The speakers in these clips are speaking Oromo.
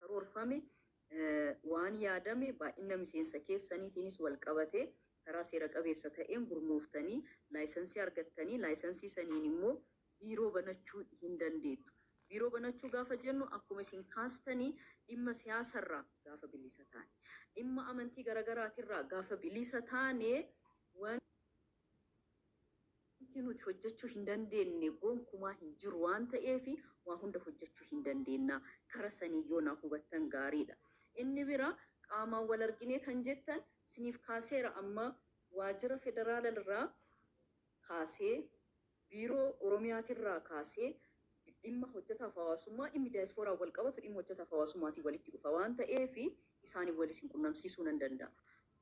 karoorfame waan yaadame baay'inna miseensa keessaniitiinis wal qabatee karaa seera qabeessa ta'een gurmooftanii laayisansii argattanii laayisansii saniin immoo biiroo banachuu hin dandeettu. Biiroo banachuu gaafa jennu akkuma isin kaastanii dhimma siyaasa irraa gaafa bilisa taane, dhimma amantii garagaraatirraa gaafa bilisa taane wan. Wanti nuti hojjechuu hin dandeenne gonkumaa hin jiru waan ta'eef waa hunda hojjechuu hin dandeenna. Kara saniin yoo naa hubattan gaariidha. Inni biraa qaamaan wal arginee kan jettan siniif kaaseera amma waajjira federaalalrraa kaasee, biiroo oromiyaatirraa kaasee dhimma hojjetaaf hawaasummaa, dhimmi dayasfooraan wal qabatu dhimma hojjetaaf hawaasummaatiin walitti dhufa waan ta'eef isaaniin wal isin qunnamsiisuu nan danda'a.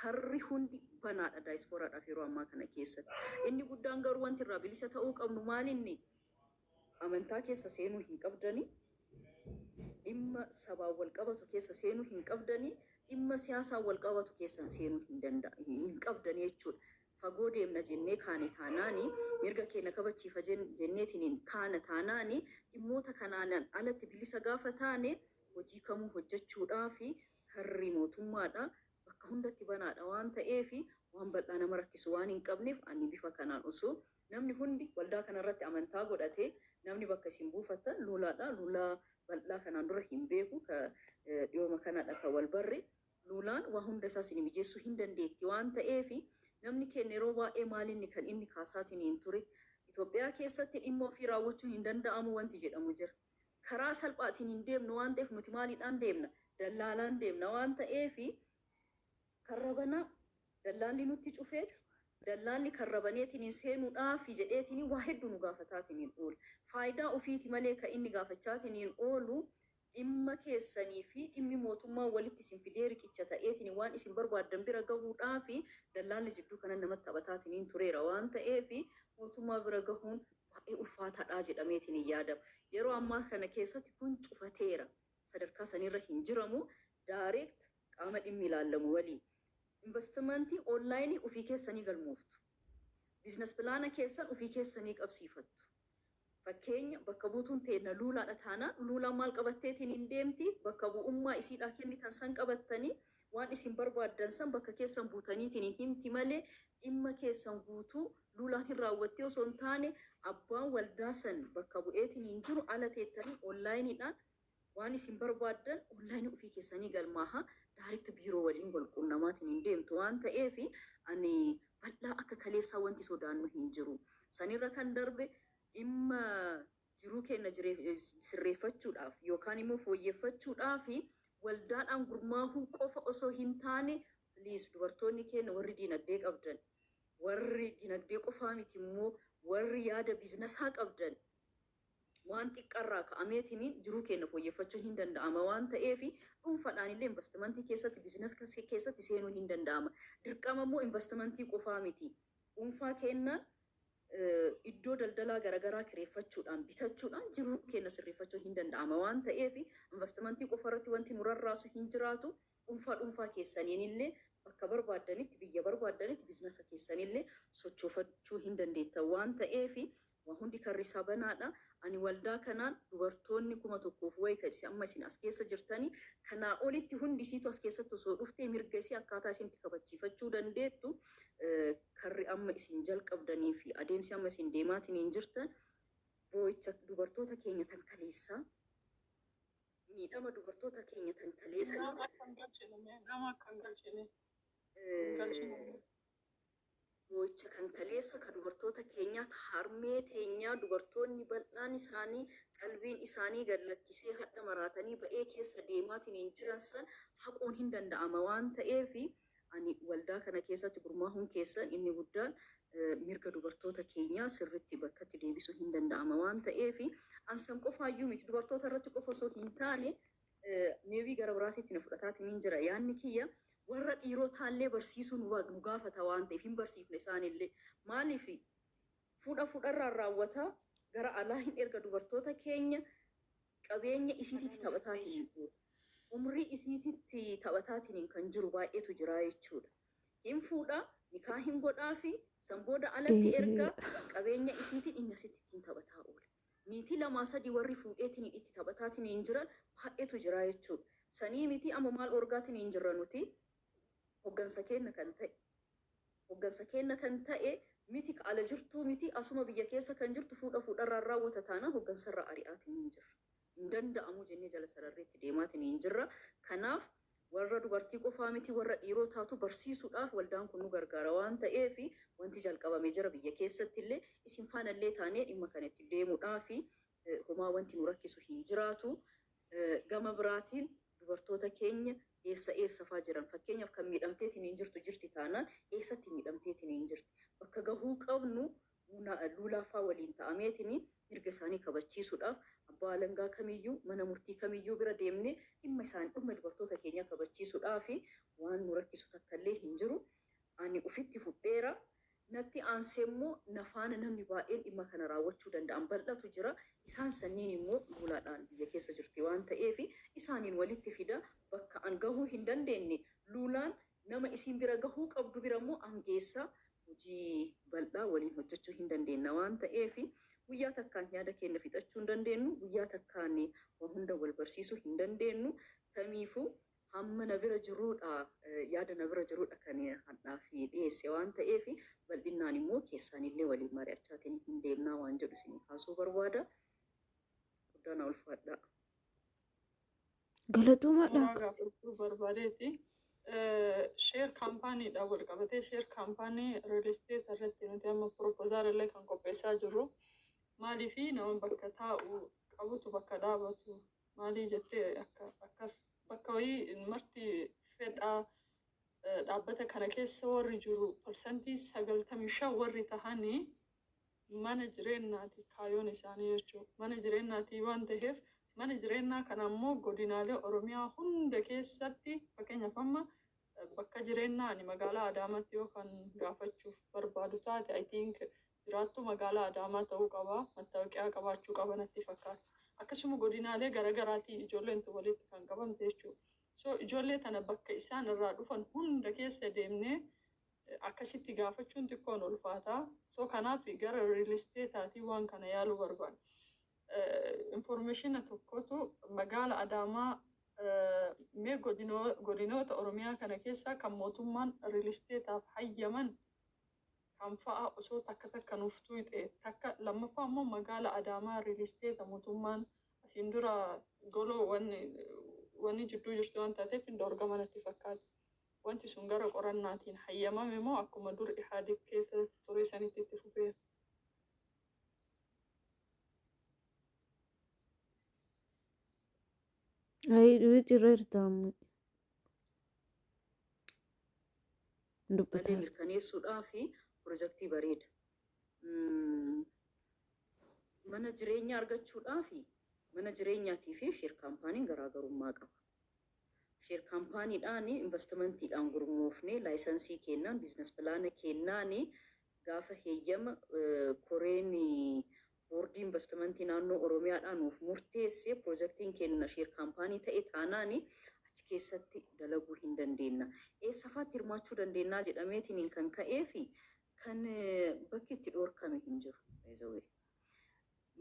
Karri hundi banaadha daayispooraadhaaf yeroo ammaa kana keessatti. Inni guddaan garuu wanti irraa bilisa ta'uu qabnu maalinni? Amantaa keessa seenuu hin qabdanii, dhimma sabaan wal qabatu keessa seenuu hin qabdanii, dhimma siyaasaan wal qabatu keessan seenuu hin danda hin qabdanii jechuudha. Fagoo deemna jennee kaane taanaani, mirga keenya kabachiifa jen- jenneetiniin kaana taanaani, dhimmoota kanaanan alatti bilisa gaafa taane hojii kamuu hojjechuudhaa fi Karri mootummaadhaa bakka hundatti banaadha waan ta'eef waan bal'aa nama rakkisu waan hin qabneef ani bifa kanaan osoo namni hundi waldaa kana irratti amantaa godhatee namni bakka isin buufattan luulaadha luulaa bal'aa kanaan dura hin beeku ka dhiyooma kanadha ka wal barre luulaan waa hunda isaa isin mijeessuu hin dandeetti waan ta'eef namni keenya yeroo baay'ee maal inni kan inni kaasaatiniin ture Itoophiyaa keessatti dhimma ofii raawwachuun hin danda'amu wanti jedhamu jira. karaa salphaatiin hin deemnu waan ta'eef nuti maaliidhaan deemna? Dallaalaan deemna waan ta'eef karra banaa dallaalli nutti cufeeti dallaalli karra baneetiin seenuudhaafi jedheetiin waa hedduu nu gaafataatiin oola. Faayidaa ofiiti malee kan inni gaafachaatiin oolu dhimma keessanii fi dhimmi mootummaa walitti isin fidee riqicha ta'eetiin waan isin barbaaddan bira gahuudhaafi dallaalli jidduu kanan namatti taphataatiin tureera waan ta'eef mootummaa bira gahuun baay'ee ulfaataadha jedhameetiin hin yaadamu. Yeroo ammaa kana keessatti kun cufateera. Sadarkaa sanirra hin jiramu. Direct qaama dhimmi ilaallamu waliin investment online ofii keessanii galmooftu. Business plan keessan ofii keessanii qabsiifattu. Fakkeenya bakka buutuun teenna Luulaadha taanaan Luulaan maal qabatteetiin hin deemti? Bakka bu'ummaa isiidhaa kennitan san qabattanii Waan isin barbaaddan san bakka keessan buutaniitiin himti malee, dhimma keessan guutuu Luulaan hin raawwatti osoo hin taane, abbaan waldaa san bakka bu'eetiin jiru ala teettanii online dhaan waan isin barbaaddan online ufii keessanii galmaahaa direct biiroo waliin wal quunnamaatiin deemtu waan ta'eef, ani bal'aa akka kaleessaa wanti sodaannu hin jiru. San irra kan darbe, dhimma Jiruu keenna sirreeffachuudhaaf yookaan immoo fooyyeffachuudhaaf waldaadhaan gurmaahuu qofa osoo hin taane please dubartoonni keenna warri diinagdee qabdan, warri dinagdee qofaa miti immoo warri yaada biizinasaa qabdan waan xiqqa irraa ka'ameetiin jiruu keenna fooyyeffachuun hin danda'ama waan ta'eef dhuunfadhaan illee invastimantii keessatti, biizinas keessatti seenuun hin danda'ama. Dirqama immoo invastimantii qofaa miti. Dhuunfaa keennaan iddoo daldalaa garagaraa kireeffachuudhaan, bitachuudhaan jiruu keenya sirreeffachuun hin danda'ama waan ta'eef invastimantii qofa irratti wanti nu rarraasu hin jiraatu. Dhuunfaa dhuunfaa keessaniin illee bakka barbaaddanitti, biyya barbaaddanitti biznasa keessan illee sochoofachuu hin dandeettan waan ta'eef waa hundi karri isaa banaa dha. Ani waldaa kanaan dubartoonni 1000 fi wayi ta'e amma isin as keessa jirtanii kanaa olitti hundi isiitu as keessatti osoo dhuftee mirga isii akkaataa isin itti kabachiifachuu dandeettu, karri amma isin jalqabdanii fi adeemsi amma isin deemaatiniin jirtan boo'icha dubartoota keenya tan kaleessaa miidhama dubartoota keenya tan kaleessa Nama akka hin galchine mee nama akka hin galchine hin galchine. eh, boo'icha kan kaleessa ka dubartoota keenyaa ka harmee teenyaa dubartoonni bal'aan isaanii qalbiin isaanii gad lakkisee hadha maraatanii ba'ee keessa deemaatiniin jiran san haquun hin danda'ama waan ta'eef Ani waldaa kana keessatti gurmaahuun keessan inni guddaan mirga dubartoota keenyaa sirritti bakkatti deebisuun hin danda'ama waan ta'eef an san qofaa iyyuu miti dubartoota irratti qofa osoo hin taane meewii gara biraatiitti na fudhataatiniin jira yaanni kiyya warra dhiirotaallee barsiisuu nu nu gaafata waan ta'eef hin barsiifne isaanillee maaliif fuudha fuudharraan raawwataa gara alaa hin erga dubartoota keenya Qabeenya isiititti taphataatiin guuta. Umrii isiititti taphataatiin kan jiru baay'eetu jira jechuudha. Hin fuudha, nikaa hin godhaafi, san booda alatti erga, qabeenya isiitiin inni asitti ittiin taphataa oola. Niitii lamaa sadii warri fuudheetiin itti taphataatiin jiran baay'eetu jira jechuudha. Sanii mitii amma maal dhorgaatiin jirra nuti? Hoggansa keenna kan ta'e. Hoggansa keenna kan ta'e miti ka ala jirtuu miti asuma biyya keessa kan jirtu fuudha fuudharraan raawwata taanaan hoggansarraa ari'aatiniin jirra. Hin danda'amuu jennee jala sararree itti deemaatiniin jirra. Kanaaf warra dubartii qofaa miti warra dhiirootaatu barsiisuudhaaf waldaan kun nu gargaara waan ta'eef wanti jalqabame jira biyya keessattillee isin faanallee taanee dhimma kana itti deemuudhaafi homaa wanti nu rakkisu hin jiraatu. Gama biraatiin dubartoota keenya eessa eessa faa jiran fakkeenyaaf kan miidhamteetiniin jirtu jirti taanaan eessatti miidhamteetiniin jirti bakka gahuu qabnu luulaa faa waliin ta'ameetiniin mirga isaanii kabachiisuudhaaf abbaa alangaa kamiyyuu mana murtii kamiyyuu bira deemne dhimma isaan dhimma dubartoota keenyaa kabachiisuudhaafi waan nu rakkisu takkallee hin jiru. Ani ufitti fudheera, natti aansee immoo na faana namni baay'een dhimma kana raawwachuu danda'an bal'atu jira. Isaan sanniin immoo luuladhaan biyya keessa jirti waan ta'eef isaaniin walitti fida. Bakka an gahuu hin dandeenne luulaan nama isiin bira gahuu qabdu bira immoo an geessa. Hojii bal'aa waliin hojjachuu hin dandeenna waan ta'eef guyyaa takkaan yaada keenna fixachuu hin dandeennu, guyyaa takkaan waa hunda wal barsiisuu hin dandeennu. Tamiifuu Hamma na bira jiruudha, yaada na bira jiruudha kan hadhaaf dhiyeesse waan ta'eef bal'innaan immoo keessaanillee waliin mari'achaatiin hin deemnaa waan jedhu isinii kaasuu barbaada. Guddaa na ulfaadhaa. Galatoomaa Suuraa dhaaka. gaafachuu barbaadeeti. Sheer kaampaaniidhaan wal qabatee sheer kaampaanii riil isteet irratti nuti amma piroopozaal illee kan qopheessaa jirru maaliif nama bakka taa'u qabutu bakka dhaabatu Maalii jettee akka akkas bakka wayii marti fedhaa eh, dhaabbata kana keessa warri jiru parsantii sagaltamii shan warri tahanii mana jireenyaati kaayoon isaanii jechuudha. Mana jireenyaati waan ta'eef mana jireenyaa kana ammoo godinaalee Oromiyaa hunda keessatti fakkeenyaaf amma eh, bakka jireenyaa ani magaalaa Adaamaatti yoo kan gaafachuuf barbaadu taate I think jiraattuu magaalaa Adaamaa ta'uu qaba, mattaawoqiyaa qabaachuu qaba natti fakkaata. Akkasuma godinaalee garagaraatii ijoolleen tun walitti kan qabamte jechuudha. So ijoollee tana bakka isaan irraa dhufan hunda keessa deemnee akkasitti gaafachuun xiqqoon ulfaata. So kanaaf gara real estate'aatii waan kana yaaluu barbaada. Informationa tokkotu magaala Adaamaa mee godinoota Oromiyaa kana keessaa kan mootummaan real estate'aaf hayyaman kan fa'a osoo takka takka nuuf tuuyxee takka lammaffaa immoo magaala adaamaa riilisteeta mootummaan asiin dura goloo wanni wanni jidduu jirtu waan taateef hin dhoorgama natti fakkaata. Wanti sun gara qorannaatiin hayyamame moo akkuma dur Ihaadig keessa ture sanitti itti fufeera? Ayii dhuyi jirra jirta amma. hin badee dubbataa. mirkaneessuudhaaf pirojektii bareeda. Mm, Mana jireenyaa argachuudhaaf mana jireenyaatii fi sheer kaampaaniin garaagarummaa qaba. Sheer kaampaaniidhaan investimentiidhaan gurmoofnee laayisansii kennaan biizines pilaana kennaan gaafa heeyyama eh, koreen Boordii Invastimantii Naannoo Oromiyaadhaa nuuf murteesse, pirojektiin keenna sheer kaampaanii ta'e taanaan achi keessatti dalaguu hin dandeenna. Eessafaatti hirmaachuu dandeennaa jedhameetiniin kan ka'eefi kan bakki itti dhoorkame hin jiru. By the way.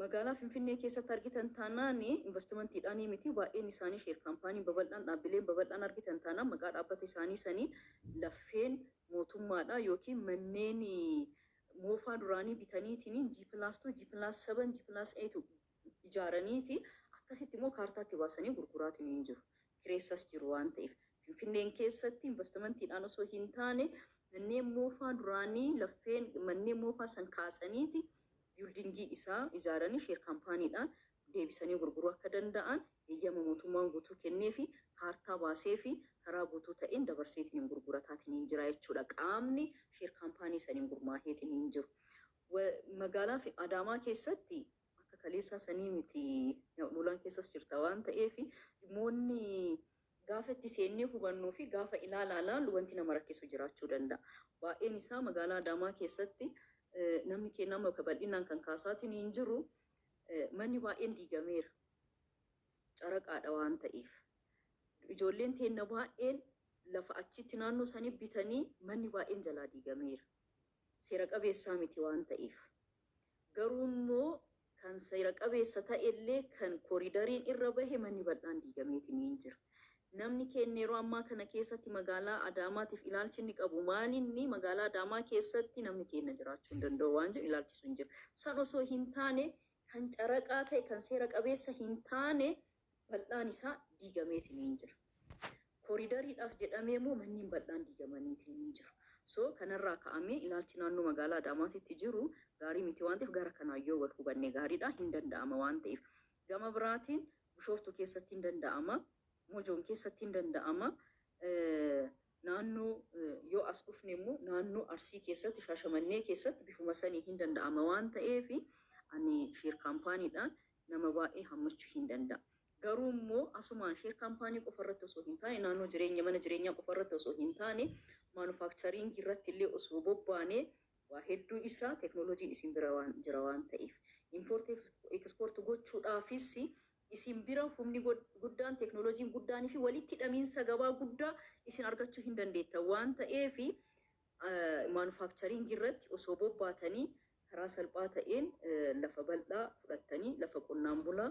Magaalaa Finfinnee keessatti argitan taanaan invastimantiidhaanii miti baay'een isaanii sheer kaampaaniin babal'aan, dhaabbileen babal'aan argitan taanaan maqaa dhaabbata isaanii saniin laffeen mootummaadhaa ykn manneen moofaa duraanii bitaniitiin G plus two, G plus seven, G plus eight ijaaraniiti akkasitti immoo kaartaatti baasanii gurguraatiin jiru. Kireessas jiru waan ta'eef. Finfinneen keessatti investimentiidhaan osoo hin taane manneen moofaa duraanii laffeen manneen moofaa san kaasaniiti biildingii isaa ijaaranii sheer kaampaaniidhaan deebisanii gurguruu akka danda'an eeyyama mootummaan guutuu kenneefi kaartaa baaseefi karaa guutuu ta'een dabarseetiniin gurgurataatiniin jira jechuudha qaamni sheer kaampaanii saniin gurmaaheetiniin jiru. Magaalaa fi Adaamaa keessatti akka kaleessaa sanii miti Luulaan keessas jirta waan ta'eef dhimmoonni gaafa itti seennee hubannuu fi gaafa ilaalaa laallu wanti nama rakkisu jiraachuu danda'a. Baay'een isaa magaalaa Adaamaa keessatti namni keenya amma bal'inaan kan kaasaatiniin jiru Manni baay'een diigameera caraqaadha waan ta'eef. Ijoolleen teenna baay'een lafa achitti naannoo sanii bitanii manni baay'een jalaa diigameera. Seera qabeessaa miti waan ta'eef. Garuu immoo kan seera qabeessa ta'ellee kan koriidariin irra bahe manni bal'aan diigameetiniin jira. Namni keenya yeroo ammaa kana keessatti magaalaa Adaamaatiif ilaalchi inni qabu maalinni? Magaalaa Adaamaa keessatti namni keenya jiraachuu hin danda'u waan jedhu ilaalchi sun jira. San osoo hin taane kan caraqaa ta'e, kan seera qabeessa hin taane bal'aan isaa diigameetiniin jira. Koriidariidhaaf jedhamee immoo manneen bal'aan diigamaniitiniin jiru. So kanarraa ka'amee ilaalchi naannoo magaalaa Adaamaatitti jiru gaarii miti waan ta'eef gara kanaan yoo wal hubanne gaariidha, hin danda'ama waan ta'eef. Gama biraatiin Bushooftuu keessatti hin danda'ama, Mojoon keessatti hin danda'ama, naannoo yoo as dhufne immoo naannoo Arsii keessatti, Shaashamannee keessatti bifuma saniin hin danda'ama waan ta'eef ani share kaampaaniidhaan nama baay'ee hammachuu hin danda'a. Garuu immoo asumaan share kaampaanii qofa irratti osoo hin taane, naannoo jireenya mana jireenyaa qofa irratti osoo hin taane, maanufaakchariingii irratti illee osoo bobbaanee Waa hedduu isaa technology isin bira waan jira waan ta'eef. Import export gochuudhaafis isin bira humni guddaan technology guddaan fi walitti hidhamiinsa gabaa guddaa isin argachuu hin dandeettan waan ta'eef manufacturing irratti osoo bobbaatanii karaa salphaa ta'een lafa bal'aa fudhattanii lafa qonnaan bulaa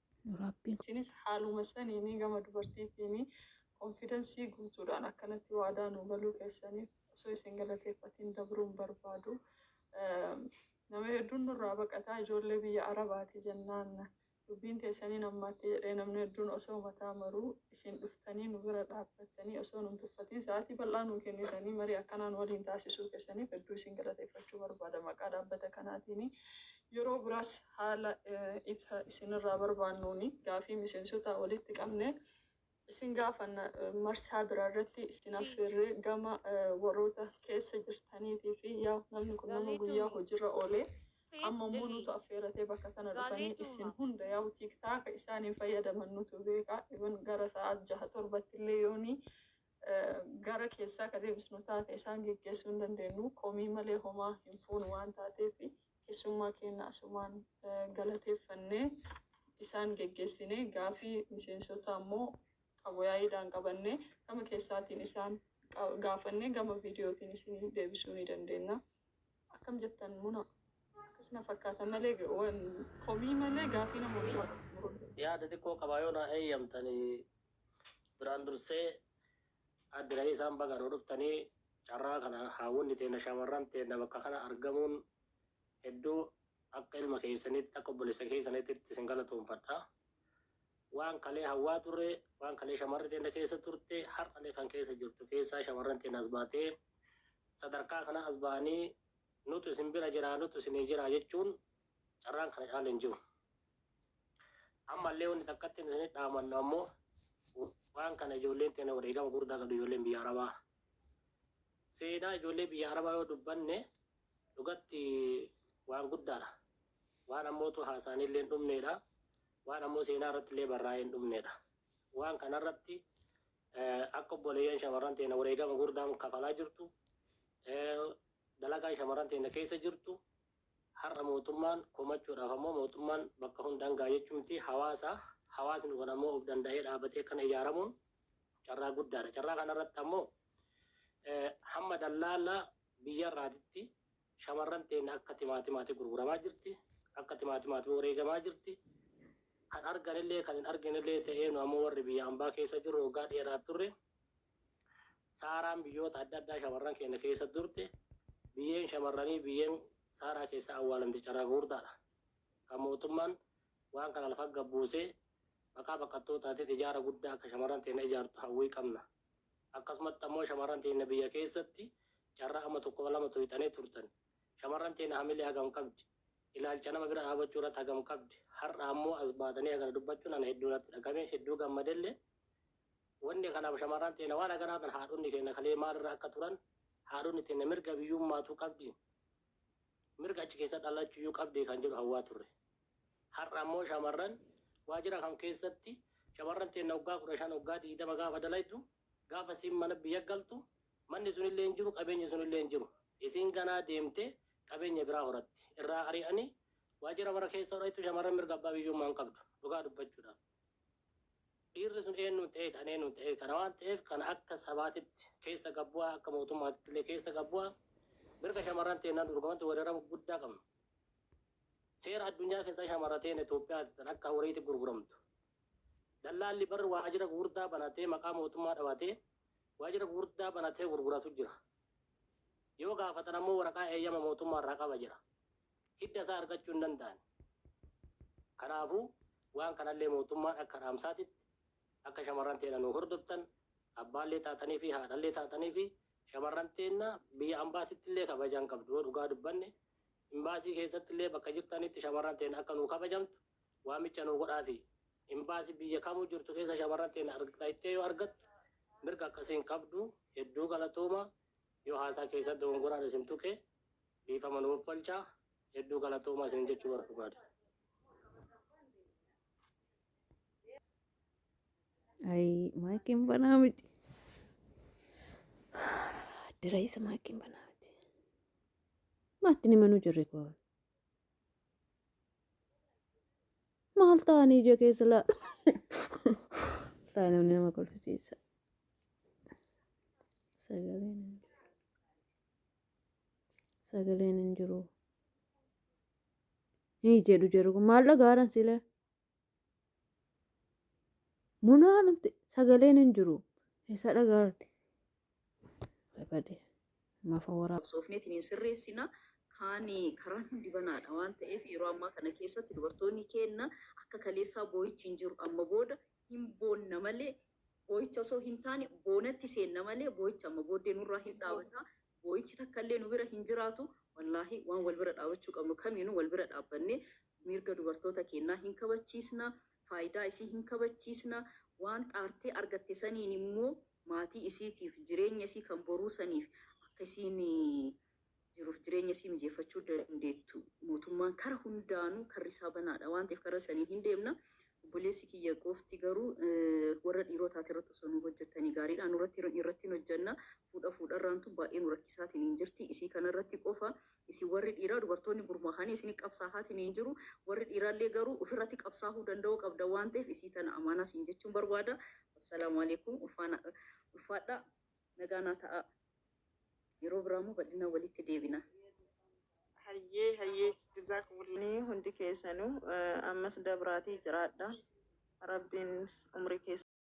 nu Rabbiin. Isinis haaluma saniin gama dubartiitiin konfidansii guutuudhaan akkanatti waadaa nuu galuu keessaniif osoo isin galateeffatiin dabruu hin barbaadu. Nama hedduun nurraa baqataa ijoollee biyya Arabaati jennaan dubbiin teessaniin ammaatti jedhee namni hedduun osoo mataa maruu isin dhuftanii nu bira dhaabbattanii osoo nun tuffatiin sa'aatii bal'aa nuu kennitanii marii akkanaa nu waliin taasisuu keessaniif hedduu isin galateeffachuu barbaada maqaa dhaabbata kanaatiin Yeroo biraas haala ifa isinirraa barbaannuun gaafii miseensotaa walitti qabnee isin gaafanna. Marsaa biraarratti isin affeerree gama warroota keessa jirtaniitii fi yaa namni kun nama guyyaa hojirra oolee amma immoo nutu affeeratee bakka tana dhufanii isin hunda yaa tiiktaaka isaaniin fayyadaman nutu beeka even gara sa'aat jaha torbatti illee yoonii gara keessaa ka deebisnu taate isaan geggeessuu hin dandeennu. Komii malee homaa hin fuunu waan taateef keessummaa keenna asumaan galateeffannee isaan geggeessine. Gaafii miseensotaa immoo Abuyaayiidhaan qabannee gama keessaatiin isaan gaafannee gama viidiyootiin isinii deebisuu ni dandeenna. Akkam jettan muna akkas na fakkaata malee komii malee gaafii nama hundumaa. Yaada xiqqoo qabaa yoo naa heeyyamtanii Duraan dursee Aadde Lalisaan baga nuu dhuftanii carraa kana haawwonni teenna shamarran teenna bakka kana argamuun hedduu akka ilma keessaniitti akka obboleessa keessaniitti isin galatoomfadha. Waan kalee hawwaa turre waan kalee shamarri teenna keessa turte har'alee kan keessa jirtu keessaa shamarran teenna as baatee sadarkaa kana as ba'anii nutu isin bira jira nutu isinii jira jechuun carraan kana caala hin jiru. Ammallee wanti takkatti isinitti dhaamannu ammoo waan kana ijoolleen teenya wareegama guddaa qabdu ijoolleen biyya Arabaa. Seenaa ijoollee biyya Arabaa yoo dubbanne dhugatti waan guddaadha. Waan ammootu haasaan illee hin dhumneedha. Waan ammoo seenaa irratti illee barraa'ee hin dhumneedha. Waan kanarratti akka obboleeyyan shamarran teenya wareegama guddaan kafalaa jirtu dalagaan shamarran teenya keessa jirtu Har'a mootummaan komachuudhaaf ammoo mootummaan bakka hundaan ga'a jechuun miti. Hawaasa, hawaasni kun ammoo of danda'ee dhaabatee akkana ijaaramuun carraa guddaadha. Carraa kanarratti ammoo hamma dallaala biyyarraatitti shamarran teenya akka timaatimaati gurguramaa jirti. Akka timaatimaati wareegamaa jirti. Kan arganillee kan hin arginillee ta'ee nu ammoo warri biyya ambaa keessa jirru waggaa dheeraaf turre. Saaraan biyyoota adda addaa shamarran keenya keessa turte. Biyyeen shamarranii biyyeen saaraa keessa awwaalamte carraa gurguddaadha. Kan mootummaan waan kana lafa gad buusee maqaa baqattootaatiin ijaara guddaa akka shamarran teenya ijaartu hawwii qabna. Akkasumatti ammoo shamarran teenya biyya keessatti carraa amma tokko lama tuyxanii turtan. Shamarran teenya hamilee hagam qabdi? Ilaalcha nama bira dhaabachuu irratti hagam qabdi? Har'a ammoo as baatanii hagana dubbachuun ana hedduu natti dhagame hedduu gammadellee Wanni kanaaf shamarran teenna waan akanaa tan haadhonni keenna kalee maal irra akka turan haadhonni teenna mirga biyyummaatuu qabdi mirga achi keessa dhalachuyyuu qabdi kan jedhu hawwaa turre. Har'a ammoo shamarran waajjira kam keessatti shamarran teenna waggaa 15 waggaa 20 gaafa dalaydu gaafa isiin mana biyya galtu manni sunillee hin jiru qabeenyi sunillee hin jiru. Isiin ganaa deemtee qabeenya biraa horatti. Irraa ari'anii waajjira mara keessa hodhaytu shamarran mirga abbaa biyyummaa hin qabdu dhugaa dubbachuudhaaf. Dhiirri sun eennuun ta'ee kan eennuun ta'ee kana waan ta'eef kana akka sabaatitti keessa gabbu'aa akka mootummaatitti illee keessa gabbu'aa mirga shamarran teennaan dorgomatti weeraramu guddaa qabna. Seera addunyaa keessaa shamarra teen Itoophiyaatti tan akka horiitti gurguramtu. Dallaalli barri waajjira gurguddaa banatee maqaa mootummaa dhabatee waajjira gurguddaa banatee gurguratu jira. Yoo gaafatan ammoo waraqaa eeyyama mootummaa irraa qaba jira. hidda isaa argachuu hin danda'an. Kanaafuu waan kanallee mootummaan akka dhaamsaatitti akka shamarran teena nu hordoftan abbaallee taatanii fi haadhallee taatanii fi shamarran teenna biyya ambaasitti illee kabajaan qabdu yoo dhugaa dubbanne imbaasii keessatti illee bakka jirtanitti shamarran teena akka nu kabajamtu waamicha nu godhaa fi imbaasii biyya kamuu jirtu keessa shamarran teena argattee yoo argattu mirga akkasiin qabdu hedduu galatooma yoo haasaa keessatti dogongoraan isin tuqe Dhiifama nuuf falchaa hedduu galatoomaa isin jechuu barbaada. Ay, maakiin banaa miti. Dira isa maakiin banaa miti. Maatti ni manuu jirri koo. Maal ta'anii ija keessa laa. Taa namni nama kolfisiisa. Sagaleen. sagaleen hin jiru ni jedhu jedhu kun maal dhagaaran silee munaa dhumti sagaleen hin jiru isa dhagaarti bade mafa waraa soofneetiin hin sirreessina kaan karaan hundi banaadha waan ta'eef yeroo ammaa kana keessatti dubartoonni keenna akka kaleessaa boo'ichi hin jiru amma booda hin boonna malee Boo'icha osoo hin taane boonatti seenna malee boo'ichi amma booddee nurraa hin dhaabata. Boo'ichi takka illee nu bira hin jiraatu. Wallaahi waan wal bira dhaabachuu qabnu kamiinuu wal bira dhaabbannee mirga dubartoota keennaa hin kabachiisna, faayidaa isii hin kabachiisna, waan xaartee argatte saniin immoo maatii isiitiif jireenya isii kan boruu saniif akka isiin jiruuf jireenya isii mijeeffachuu dandeettu mootummaan kara hundaanuu karri isaa banaadha waan ta'eef karra saniin hin deemna obboleessi kiyya goofti garuu warra dhiiroo taate irratti osoo nu hojjettanii gaariidha nurratti irratti hin hojjenna fuudha fuudharraan tun baay'ee nu rakkisaatiin hin jirti isii kanarratti qofa isin warri dhiiraa dubartoonni gurmaahanii isin qabsaahaatiin hin jiru warri dhiiraallee garuu ofirratti qabsaahuu danda'uu qabda waan ta'eef isii tana amaanaa siin jechuun barbaada wassalaamu alaikum ulfaadha nagaanaa ta'aa Yeroo biraa immoo bal'inaan walitti deebina. Hayyee hayyee jazaakumullah. Ni hundi keessanuu eh, ammas dabraatii jiraadha. Rabbiin umrii keessan.